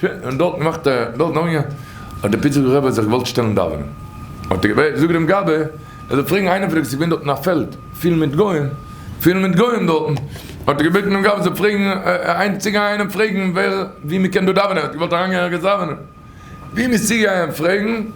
שוין, און דארטן מאכט ער, דארטן אמאל האט דער פיטסבורגער רבי האט זיך געוואלט שטעלן דאווענען, האט ער געבעט, זאג דעם גבאי ער זאל פרעגן איינער פון די, ס'איז געווען דארטן א פעלד פיל מיט גוים, פיל מיט גוים דארטן, האט ער געבעטן דעם גבאי זאל פרעגן, איינער צו גיין און פרעגן ווער, וואו מ'קען דא דאווענען, ער האט געוואלט אריינגיין ערגעץ דאווענען, וואו מ'איז צו גיין פרעגן.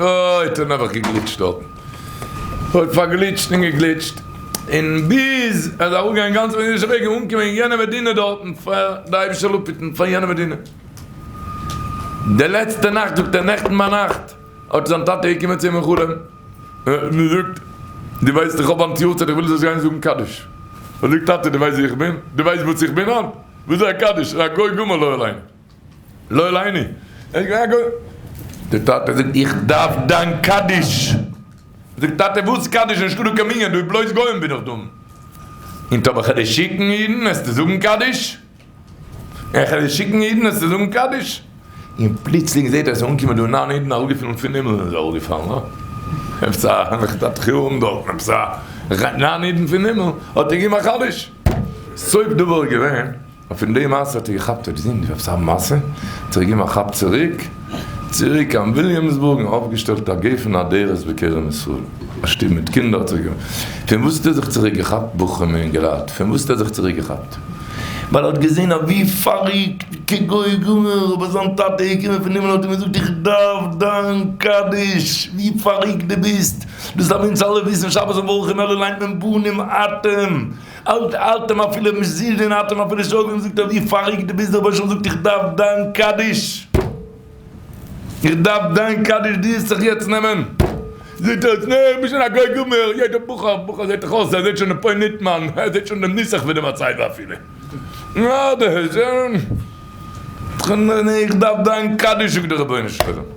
אוי טאָ נעבעך געגליטשט דאָרטן. אוי פאַרגליטשט און געגליטשט. און ביז ער איז אַראָפּגעגאַנגען גאַנץ אויף אידישער וועג און אָנגעקומען אין יענער מדינה דאָרטן פאַר די אייבישע לאָפּיטן פון יענער מדינה. די לעצטע נאַכט, זאָגט ער, נעכטן ביינאַכט האָט זיין טאַטע געקומען צו אים אין חלום און געזאָגט, דו ווייסט איך האָב היינט יאָרצייט איך וויל זאָלסט גיין זאָגן קדיש. ער זאָגט, טאַטע דו ווייסט ווער איך בין? דו ווייסט וואָס איך בין היינט? וואָס איז אַ קדיש? אַ גוי גמור לא עלינו. לא עליני. די טאטע זאגט איך דארף דיין קדיש. זאגט טאטע וואס קדיש נישטא דא קיין מנין דא איז בלויז גוים בין איך דן אין טאמער כ'על דיר שיקן אידן העסטו זאגן קדיש? אין כ'על דיר שיקן אידן העסטו זאגן קדיש? אין פלוצלינג זעהט ער עס איז אנגעקומען דא נײַן אידן אראפגעפלן פון הימל איז ער אראפגעפאלן אה עפעס א נחתת חירום דארטן עפעס א נײַן אידן פון הימל האט ער געגעבן א קדיש סוף דבר געווען. און פון די מעשה האט ער געכאפט האט געזען די וועבסייט מעשה האט ער געגעבן א כאפ צוריק צוריק קיין וויליאמסבורג און אויפגעשטעלט א גפן אדרת בקרן ישראל א שטוב מיט קינדער האט ער געמאכט פון וואס האט ער זיך צוריק געכאפט בחורים און אינגעלייט פון וואס האט ער זיך צוריק געכאפט ווייל ער האט געזען אז ווי פאריקט כגוי גמור אבער זיין טאטע איז געקומען פון הימל און האט אים געזאגט איך דארף דיין קדיש ווי פאריקט די ביסט דאס דארף אונז אלע וויסן שבת ומברכין אלע ליינט מען בנים אתם אלט האלט אים אפילו מזיד און האט אים אפילו שוין אנגעזאגט אז ווי פאריגט דו ביסט דאך בויך שוין געזאגט איך דארף דיין קדיש איך דארף דיין קדיש דו זאלסט זיך יעצט נעמען זעהט אויס נעה איך בין שוין א גוי גמור יעדער בחור בחור זעהט דאך אויס ער זעהט שוין די פאוינט ניט מיין ער זעהט שוין דעם נוסח פון די מצבה אפילו נעה איך דארף דיין קדיש זאגט דער רבונו של עולם.